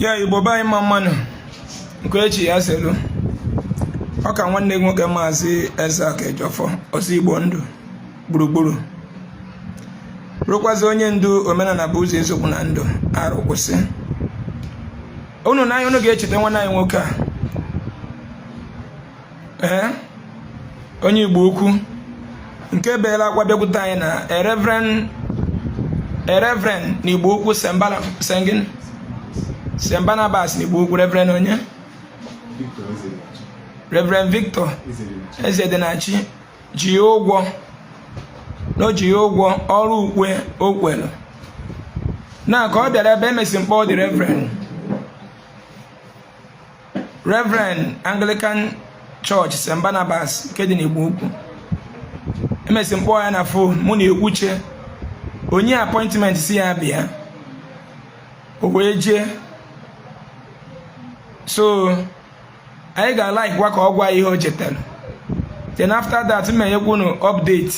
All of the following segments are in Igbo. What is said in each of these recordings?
ya igbo be anyị mma mma nụ nke onye chi ya zelu ọ ka nwanne gị nwoke maazị Isaac Ejiofor ọzọ igbo ndụ gburugburu bụrụkwazi onye ndu omenala bụ ụzọ eziokwu na ndụ arụ kwụsị unu n'anya unu ga-echeta nwanne anyị nwoke a ee onye igbo ukwu nke beela akwa bịakwute anyị na reverend reverend na igbo ukwu St. Barna St. gịnị St. Barnabas na igbo ukwu reverend onye reverend victor Ezedinachi ji ya ụgwọ na o ji ya ụgwọ ọrụ ukwe o kwelu na ka ọ bịara ebe a emesịa m kpọọ the reverend Reverend Anglican Church St. Barnabas nke dị n'Igbo Ukwu emesịa m kpọọ ya na fon mụ na ya ekwuchaa o nye appointment sị ya bịa o wee jee so anyị ga-alikekwa ka ọ gwa ihe o jetelu then after that m enyekwa unu update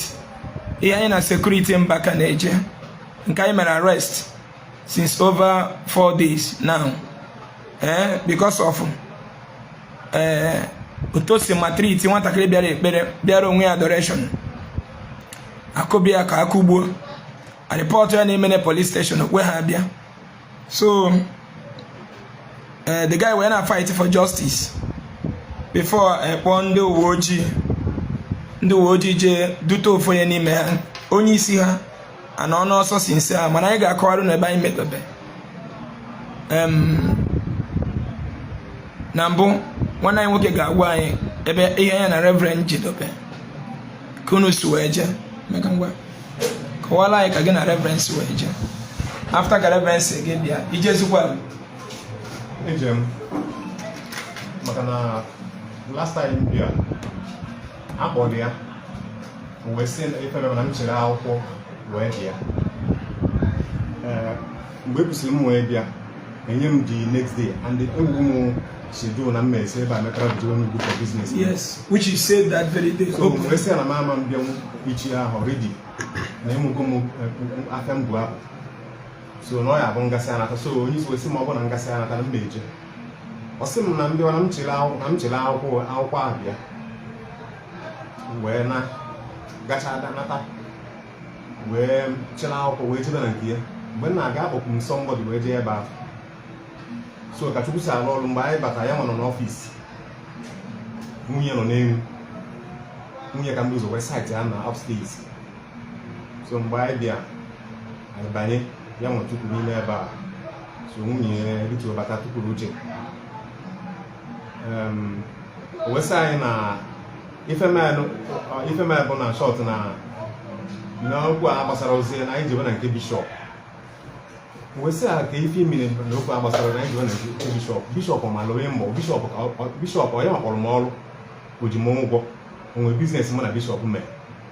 ihe anyị na security Mbaka na-eje nke anyị mere arrest since over four days now eh, because of eh, otu o si maltreat nwatakịrị bịara ekpere bịara onwe ya adoration akụba ya ka akụgbuo a report ya n'Emene police station okwe ha abịa so eh, the guy wee na fight for justice before ekpọọ eh, ndị uwe ojii ndị uwe ojii jee dute ofu onye n'ime ha onye isi ha and unu eso since ahụ mana anyị ga-akọwarụ unu ebe anyị medobe na mbụ nwanne anyị nwoke ga-agwa anyị ebe ihe ya na reverend jedobe ka unu si wee jee Emeka ngwa kọwara anyị ka gị na reverend si wee jee after ka reverend sị gị bịa i jezikwa eje m maka na last time m bịa akpọrọ ya wee sị efere na m chịrị akwụkwọ wee bịa mgbe ekwusịrị m wee bịa enye m the next day and egwu m schedule na mma esi ebe a mepere bido onye ugwu for business yes which you said that very day so m wee sị na m ama m bịanwu echi ahụ ready na ịmụgo m afịa m bụ apụ so na ọ ya bụ m gasịa nata so onye isi wee sị ma ọ bụ na m gasịa nata na mma eje ọ sị m na m bịa na m chịrị akwụkwọ akwụkwọ ahụ bịa wee na gacha nata wee chịla akwụkwọ wee jebe na nke ya mgbe m na-aga akpọpụ m somebody wee jee ebe ahụ so ka chukwu si arụ ọrụ mgbe anyị batara ya nwa nọ n'office nwunye nọ n'elu nwunye ka m bu ụzọ wee sight ya na upstairs so mgbe anyị bịa anyị banye ya m tukwuru n'ime ebe a so nwunye ya erituo bata tukwuru oche o wee sị anyị na ife melụ bụ na short na n'okwu a gbasarọzi ya anyị jebe na nke bishọp wee sị a ke ife mere na okwu a gbasara na anyị jebe na nke bishọp bishọp ma lụwe mbọ bishọp ọ ya kpọrọ m ọrụ o ji m ụgwọ o nwe business mụ na bishọp mee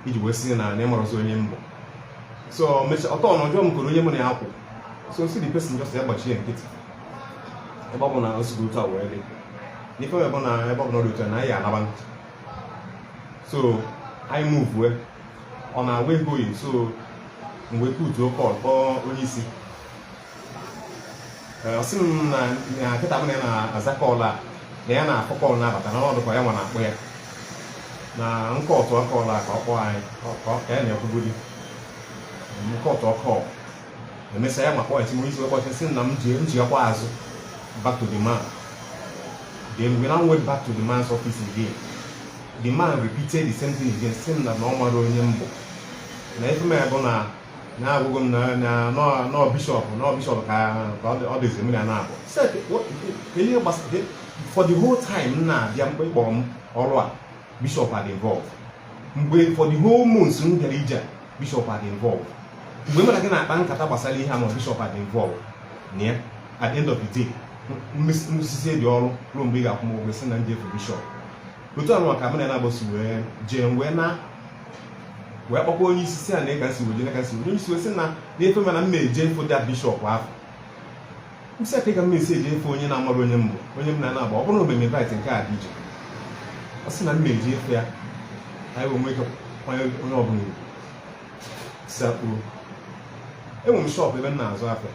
i ji wee sị na na ị marọzi onye m bụ so ọtọ na ọjọọ m kụrụ onye mụ na ya kwụ ọ sị the person just ya gbachie nkịtị ebe ọ bụ na o sigo otu a wee dị n'ife ebe na ebe ọ bụ na ọ dị otu a na anyị anaba so anyị muvue on our way going so m wee putuo call kpọọ onye isi ọ sị m na kịta m na ya na-aza call a na ya na-akpọ call na-abata na ọ dị ka ya nwa na-akpọ ya na m kọtụọ call a ka ọ kpọọ anyị ka ya na-ekwugodi m kọtụọ call emesịa ya nwa point nwere isi wee kpọta sị na m ji m jekwaa azụ back to the man then we now went back to the man's office again the man repeated the same thing again sị na na ọ mara onye m bụ na ife mere bụ na na agwago m na na nọ- nọ bishọp nọ bishọp ka ka ọ dị- ọ dịzi mmiri a na-abụ Sị, "Ke- what- ke- ke ihe gbasara for the whole time m na-abịa mgbe ị kpọrọ m ọrụ a bishọp adị involve mgbe for the whole month m bịara ije bishọp adị involve mgbe mụ na gị na-akpa nkata gbasara ihe a ma bishọp adị involve na ya at the end of the day m mesisịa gị ọrụ ruo mgbe ị ga-akwụ m ụgwọ sị na m jee fụ bishọp otu ahụ ka m na na-agbasi wee jee wee na wee kpọkwa onye isi sị a nee ka m si wee jee na ka m si wee onye isi wee sị na na-efe mana m na-eje foda bishọp ahụ m sị ke ka m ga-esi eje fụ onye na-amaghị onye m bụ onye m na-ana agba ọ bụrụ na o mee m invite nke a dị iche ọ sị na m jee fụ ya ka anyị wee nwee ike kwanye onye ọbụla ugwu sakpuru enwere m shop ebe m na-azụ afịa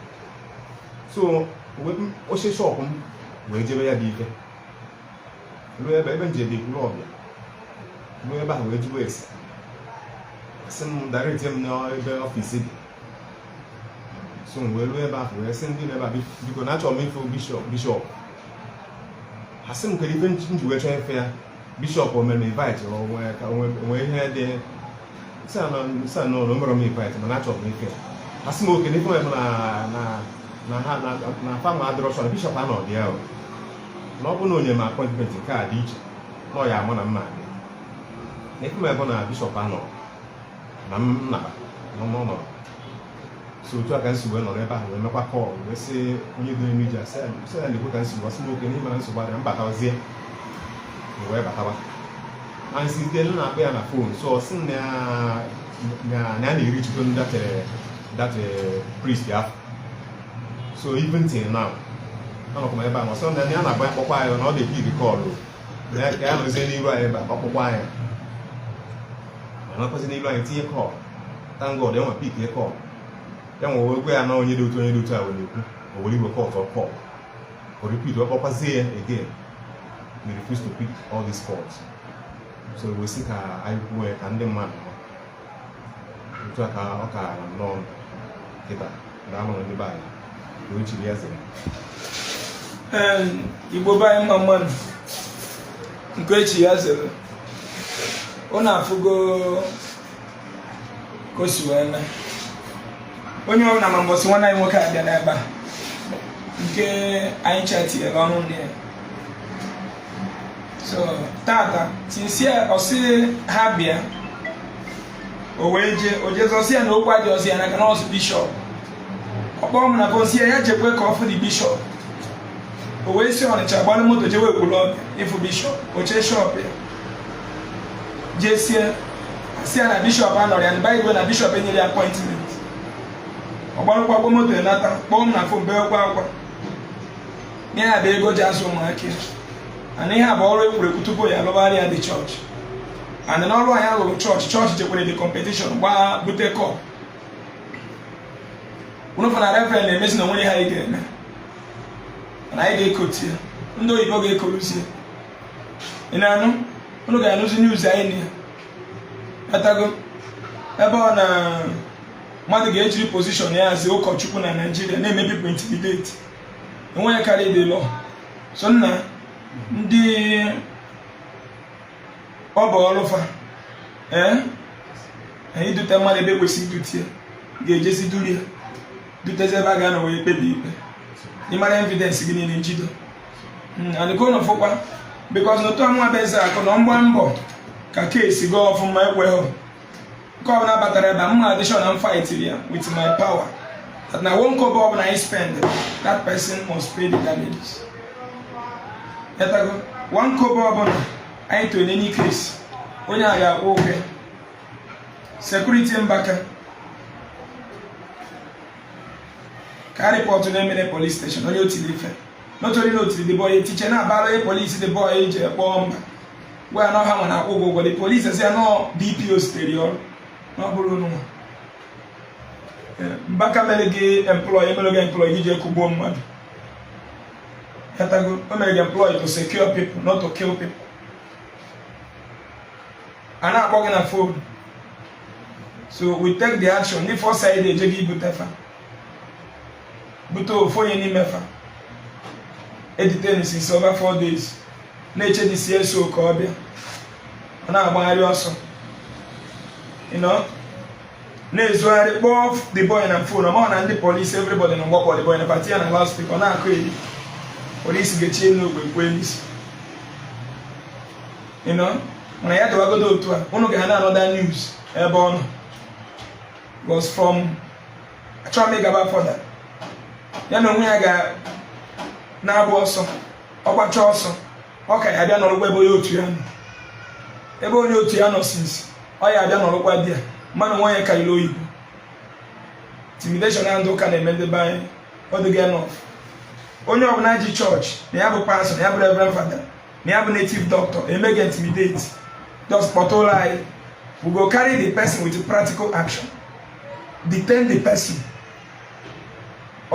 so m si shop m wee jebe ya dị ike ruo ebe ebe m ji ebe ikwuru ọbịa ruo ebe ahụ wee jụọ ese asị m directie m n'ebe office dị so m wee ruo ebe ahụ wee sị ndị nọ ebe biko na achọrọ m ịfụ bishọp bishọp ha sị m kedụ ife m ji wee chọọ ịfụ ya bishọp o mere m invite onwe ihe dị sị na o merọ m invite mana achọrọ m ịfụ ya ha sị m oke na ife m na ha na fam adịrọ chọrọ bishọp anọ dị ya na ọ bụ na o nye m apọintment nke a dị iche na ọ ya ama na mana ife mere bụ na bishọp anọ na m na nọ n'ụlọ so otu a ka m si wee nọrọ ebe ahụ wee mekwa kọl wee sị onye dị eme iji asị sị ya na-ekwe ka nsogbu asị nwoke n'ime na nsogbu adịrọ m batazie wee batawa anyị si site na akpọ ya na fon so ọ sị na ya na-eri chukwu that priest afụ so even till now anọkwa m ebe ahụ ọsọ na ya na-agba akpọkwa anyị na ọ na-ebi gị kọl ya ka ya nọzie n'iru anyị ebe a ọkpụkpọ anyị ma nọkwazi n'iru anyị tinye kọl thank god o wee pikie kọl ya anyị wee gwa ya na onye dị otu onye dị otu a wee na-ekwu o were iwe kọtụọ kọl o repeat ọ kpọkwazie ya again he refuse to pick all these calls so wee sị ka anyị kwuo ya ka ndị mmadụ otu a ka ọ ka nnọọ kịta na anụrụ ndị be anyị na o chiri ya zere Ee, igbo be anyị mma mma nụ nke e chi ya zere ụnụ afụgo ka o si wee mee onye ọbụla ma mbọsị nwanne anyị nwoke a bịa n'ebe a nke anyị cha tinyere ọnụ na ya so tata tinsie ọ sị ha bịa o wee jee o jezie a sị ya na okwu adịrọzị ya n'aka na ọ bụzi bishọp ọ kpọọ m na kọl m sị ya ya jekwe ka ọ fụdị bishọp o wee si ọnịcha gbalụ moto jewe ekwulọbịa ịfụ bishọp o chie shọp ya jesie a sị ya na bishọp anọrọ ya na ọ bụlụ na bishọp nyere ya apọịntment ọ gbarụkwagwo moto nata kpọọ m na fon beekwa akwa ihe a bụ ego o ji azụ ụmụaka ya and ihe a bụ ọrụ e kwuru ekwu tupu ya lụbara ya dị chọọchị and n'ọrụ anyị lụrụ chọọchị chọọchị jekwara dị kọmpetishọn gbaa bute kọp unu fụ na reverend na-emezi na o nwere ihe anyị ga-eme na anyị ga-ekoti ya ndị oyibo ga-ekoruzi ya ị na-anụ unu ga-anụzi news anyị na ya atago ebe ọ na mmadụ ga-ejiri pozishọn ya as ụkọchukwu na naijiria na-eme people intimidate enweghị karị the law so na ndị ọ bụ ọlụ fa ee idute mmadụ ebe e kwesịrị idute ya ga-ejezi duru ya dutezi ebe a ga-anọ wee kpebie ikpe ị mara evidensị gị niile njido hmm, and ka ụnụ fụkwa bikọs na otu a mụwa bụ eze akụ na m gba mbọ ka keesi gaa ọfụma ekweghị nke ọbụla batara ebe a mma addition na fight ya with my power that na one kobo ọbụla anyị spend that person must pay the damages ị ghọtago one kobo ọbụla anyị to in any case onye a ga-akwụ ụgwọ sekuriti mbaka ka a rịpọtụ na emene police station onye o tiri ife notori na o tiri the boy a etiche na-abara onye polisi the boy a iji kpọọ mba gwa ya na ọha nwere akwụ ụgwọ ụgwọ ndị polisi asị ya no dpo sitere ọrụ na ọ bụrụ unu nwa mbaka mere gị employ e mere gị employ gị ji akụgbu mmadụ ị ghọtago o mere gị employ to secure people not to kill people a na-akpọ gị na fon so we take the action ndị fọ said eje gị ibute fa bute ofu onye n'ime fa e detain since over four days na-eche the cso ka ọ bịa ọ na-agbagharị ọsọ na-ezogharị kpọọ the boy na fon ọ maghị na ndị polisi everybody nọ mgbe a kpọ the boy put ya na loudspeaker ọ na-akọyeri polisi ga-echi elu ogbe kwuo n'isi mana ya dịwagodo otu a ụnụ ga-ahụ na another news ebe ọ nọ was from achọghị m ịgaba further ya na onwe ya ga na-agba ọsọ ọ gbacha ọsọ ọ ka ya bịa nọrọkwa ebe onye otu ya nọ ebe onye otu ya nọ since ọ ya abịa nọrọkwa there mmanụ onye karịrị ibe intimidation na ndị ụka na-eme ndị be anyị ọ dịghị enough onye ọbụla ji chọọchị na ya bụ pastọ na ya bụ reverend fada na ya bụ native doctor eme gị intimidate just kpọtụrụ anyị we go carry the person with practical action detain the person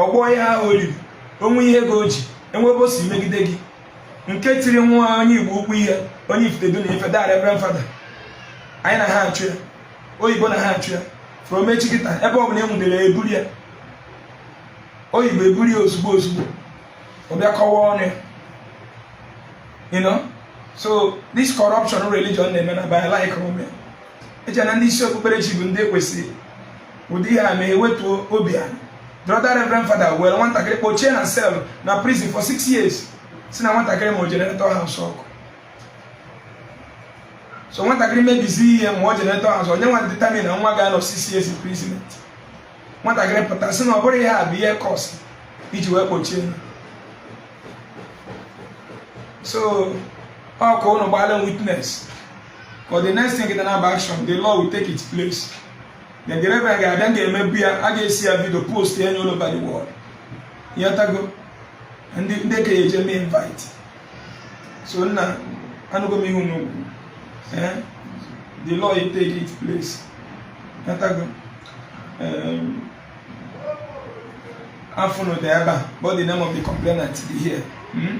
ọgbọ ya ahụ oriri o nwee ihe gị oji enwebe si megide gị nke tiri nwa onye igbo ukwu ihe onye ifitedu na ife dara reverend fada anyị na ha achụ ya oyibo na ha achụ ya from echi kịta ebe ọ bụla e nwudere eburu ya oyibo eburu ya ozugbo ozugbo ọ bịa kọwaa ọnụ ya you know so this corruption religion na-eme na by like eche na ndị isi okpukperechi bụ ndị kwesịrị ụdị ihe a ma ewetuo obi a the other reverend father were nwatakịrị kpọchie na cell na prison for six years sị na nwatakịrị ma o jeneretọ ha nsọ ọkụ so nwatakịrị mebizi ihe ma ọ jeneretọ azụ onye nwa determine na nwa ga-anọ six years imprisonment nwatakịrị pụta sị na ọ bụrụ ihe a bụ ihe cause iji wee kpọchie so ọ bụ ụnụ gbaala witness for the next thing gị na-aba action the law will take its place na Jeremaya ga-abịa ga-emebu ya a ga-ese ya video post ya all over the world ịghọtago ndị ndị ka eje mee invite so nna anụgo m ihu n'okwu eh? the law it take its place ịghọtago afa unu dị ebe a but the name of the complainant dị here hmm?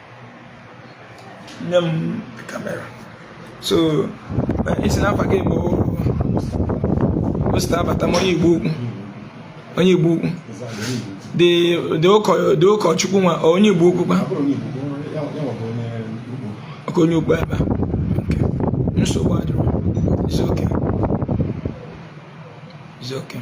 nye m kamera so ị sị na afa gị bụ osita abata m onye igbo ukwu onye igbo ukwu dị ụkọchukwu nwa onye igbo ukwu kwa ọka onye ugbo ebe a nsogbu adịrọ it's okay it's okay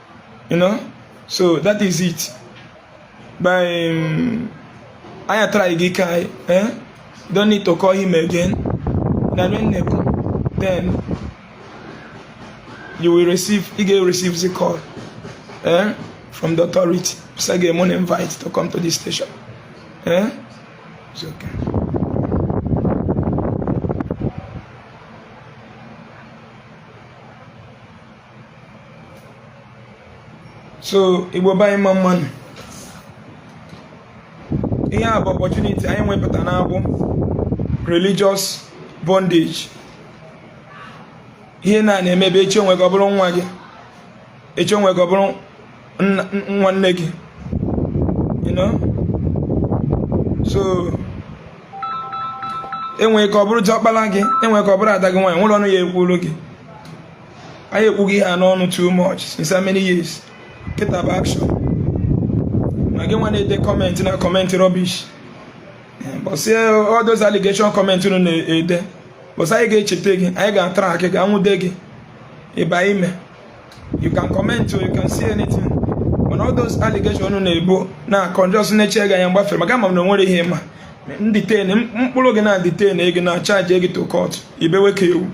you know so that is it by um, anya try gị ka anyị eh don't need to call him again na nnekwu then you will receive ị ga-receive the call eh from the authority so ga eme invite to come to this station eh it's okay so igbo be anyị mma mma nụ ihe a bụ opportunity anyị nwe pụta n'agbụ religious bondage ihe na na-emebe echi o nwere ike ọ bụrụ nwa gị echi o nwere ike ọ bụrụ nwanne gị you know so e nwere ike ọ bụrụ ọkpara gị e nwere ike ọ bụrụ ada gị nwaanyị nwere ọnụ ya ekwuru gị anyị ekwugo ihe a n'ọnụ too much since how many years kịta bụ action ma gị nwa na-ede comment na-comment rubbish bọsị all those allegation comment unu na-ede mbọsị anyị ga-echeta gị anyị ga-atrack gị nwude gị ị baa ime you can comment or you can say anything mana all those allegation unu na-ebo na-akọ m just na-eche gị anya m gbafere maka ama m na o nwerọ ihe ị ma detain m kpụrụ gị na detain gị na charge gị to court ị bewe ka ewu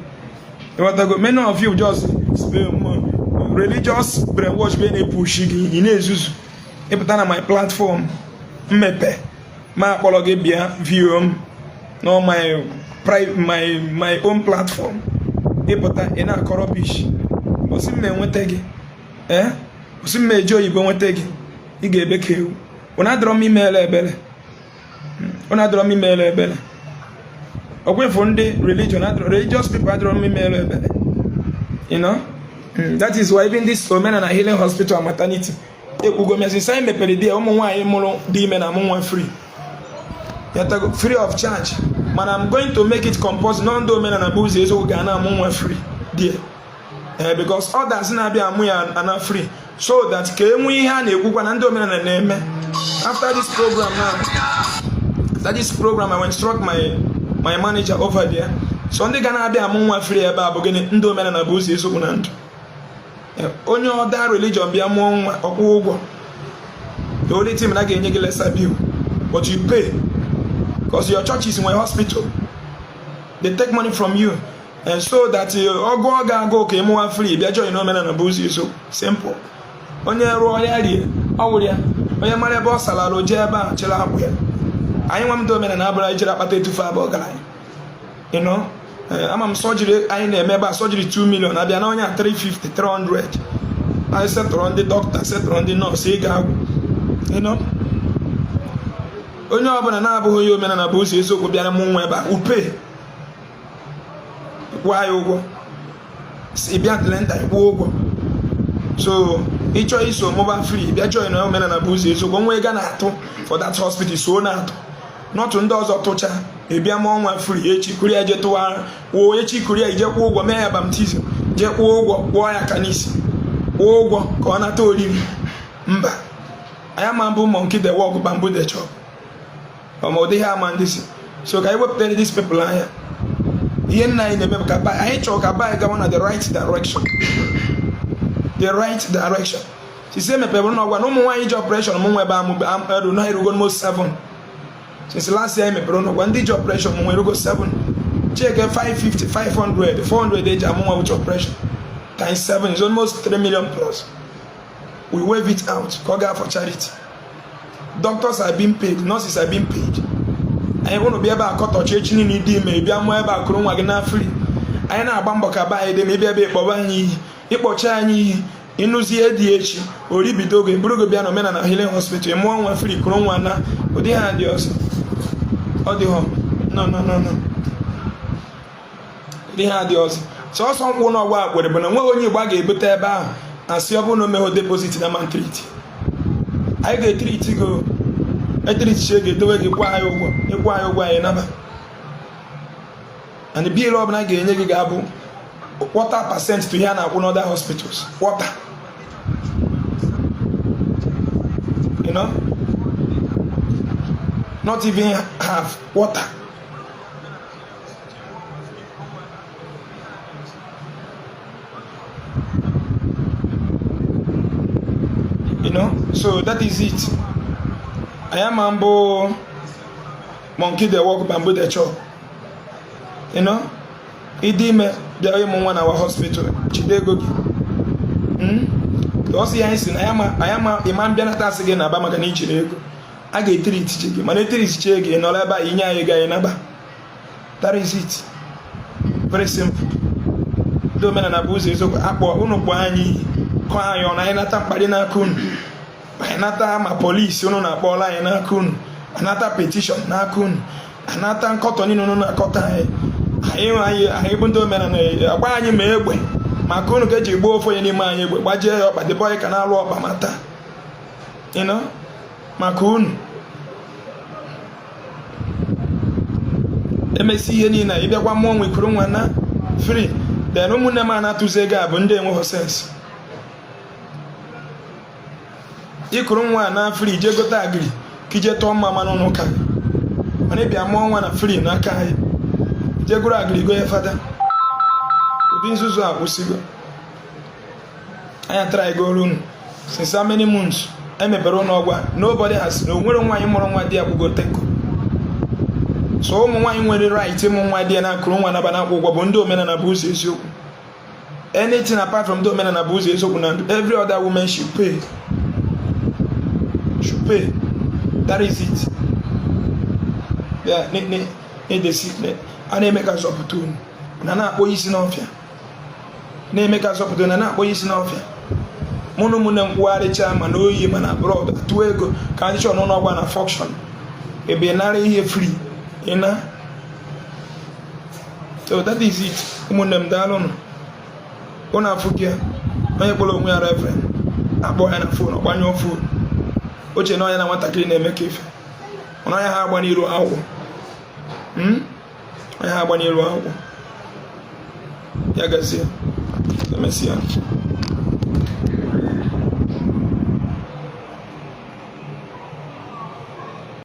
ịghọtago many of you just religious brainwash bụ na-epushi gị ị na-ezuzu ị pụta na my platform m mepe ma akpọrọ gị bịa view m na my my my own platform ị pụta ị na-akọ rubbish mbọsị m na-enweta gị ee eh? mbọsị m na-eji oyibo nweta gị ị ga-ebe ka ewu bụ na adịrọ m emere ebere ọ na adịrọ m emere ebere ọgwụfụ ndị religion religious people adịrọ m emere ebere you know hmm, that is why even this omenala healing hospital and maternity ekwugo m since anyị mepere di ya ụmụ nwaanyị mụrụ dị ime na-amụ nwa free ịghọtago free of charge mana I'm going to make it compulsory na ndị omenala bụ ụzọ eziokwu ga na-amụ nwa free there ee eh, because others na-abịa amụ ya ana free so that ka e nwee ihe a na-ekwukwa na ndị omenala na-eme after this program na after this program I will instruct my my manager over there so ndị ga na-abịa amụ nwa free ebe a bụ gịnị ndị omenala bụ ụzọ eziokwu na ndụ eh, onye other religion bịa mụọ nwa ọ kwụọ ụgwọ the only thing na a ga-enye gị lesser bill but you pay because your church is in a hospital they take money from you and so that eh, ọ gụọ gị agụụ ka ị mụọ nwa free bịa join omenala bụ ụzọ it's so simple onye rụọ ya rie ọ wụrụ ya onye mara ebe ọ salụ arụ o jee ebe a chịrị akwa ya anyị nwa bụ ndị omenala abụrọ anyị jere akpata etufe abụ ọgaranya you know eh, ama m surgery anyị na-eme ebe a surgery 2 million a bịa na onye a 350 300 anyị settle ndị dọkịta settle ndị nọọsụ ego agwụ you know onye ọbụla na-abụghị onye omenala bụ ụzọ eziokwu bịara mụ nwa ebe a upe kwụọ ya ụgwọ si bịa antenatal kwụọ ụgwọ so ị chọọ iso mụba free bịa join na omenala bụ ụzọ eziokwu nwa ga na-atụ for that hospital so na-atụ n'ụtụ ndị ọzọ tụcha ị bịa mụọ nwa free echi kuru ya je tụwa woo echi kuru ya i jee kwụọ ụgwọ mee ya baptism jee kwụọ ụgwọ kwụọ ya aka n'isi kwụọ ụgwọ ka ọ nata oriri mba anyị ama abụ monkey dey work baboon dey chop ọma ụdị ihe ama ndị si so ka anyị wepụtara this people anya ihe nna anyị na-eme ka anyị chọrọ ka anyị gawa na the right direction the right direction since e mepere ụlọ ọgwụ a na ụmụ nwaanyị ji operation mụ nwa ebe amụberu na erugo mo 7 since last year e mepere ụlọ ọgwụ a ndị ji operation mụ nwa erugo 7 check 550 500 400 e ji amụ nwa with operation times 7 is almost 3 million plus we waive it out ka ọ gaa for charity doctors are being paid nurses are being paid yet unu bịa ebe a kọtọchaa echi niile ị dị ime bịa mụọ ebe a kuru nwa gị naa free anyị na-agba mbọ ka be anyị dị mma ị bịa ebe ị kpọba anyị iyi ị kpọchaa anyị iyi ị nụzie di echi oribido oge buru gị bịa na omenala healing hospital mụọ nwa free kuru nwa naa ụdị ihe a dị ọzọ ọ dịghọ no no no no ihe a dị ọzọ sọsọ nkwa na ọgba akwere bụ na o nweghị onye Igbo a ga-ebute ebe ahụ a sị ọ bụrụ na o meghị deposit na a ma-etreat anyị ga-etreat gị etreatchaa gị edowe gị kwụọ anyị ụgwọ ị kwụọ anyị ụgwọ anyị naba and bill ọbụla a ga-enye gị ga-abụ quarter percent to ihe a na-akwụ n'other hospitals quarter you know not even half quarter you know so that is it anyị ama abụ monkey dey work baboon dey chop you know ị dị ime bịa ịmụ nwa na our hospital jide ego gị hmm? ọ sị ya anyị sị na anyị ma ịma mbịanata a sị gị naba maka na i jirọ ego a ga-etreatchaa gị mana etreatchaa gị nọrọ ebe a i nye anyị ego anyị naba that is it very simple ndị omenala bụ ụzọ eziokwu akpọ unu kpọọ anyị kọọ anyị ọnụ anyị nata mkparị n'aka unu anyị nata ma police unu na-akpọla anyị n'aka unu anata petition n'aka unu anata nkọtọ niile unu na-akọtọ anyị anyị bụ ndị omenala agba anyị ma egbe maka unu ka eji gbaa ofu onye n'ime anyị egbe gbajie ya ọkpa dịbọ anyị ka na-alụ ọkpa ma taa maka unu emesịa ihe niile ị bịakwa mụọ nwa i kuru nwa na free then ụmụnne m a na-atụzi ego a bụ ndị enweghị sense i kuru nwa na free jee gote agric ka i je tụọ mmamma n'ụnọ ụka mana ị bịa mụọ nwa na free n'aka anyị jee goru agric go ya fada ụdị nzuzu a kwụsịgo anyị tụrụ ego ọrụ unu since how many months emepere ụlọ ọgwụ a nobody has na o nwere nwaanyị mụrụ nwa di ya kwụgo ten kobo so ụmụ nwaanyị nwere right ịmụ nwa di ya na ekuru nwa naba na-akwụghị ụgwọ bụ ndị omenala bụ ụzọ eziokwu anything apart from ndị omenala bụ ụzọ eziokwu na every other woman should pay should pay that is it ya na-edesi a na-eme ka zọpụta unu na na-akpọ isi n'ọfịa na-eme ka zọpụta na na-akpọ isi n'ọfịa mụ na ụmụnne m kwugharịcha ma na oyi ma n'abroad tụọ ego ka anyị chọọ n'ụlọ ọgwụ a na function ị bịa nara ihe free ị naa so that is it ụmụnne m daalụnụ unu afụgo onye kpọrọ onwe ya reverend akpọọ ya na phone ọ gbanyụọ phone o che na ọ ya na nwatakịrị na-eme ka ife ọnụ anya ha agba n'iru akwụkwọ hmm? anyị agba n'iru akwụkwọ ya gazie emesịa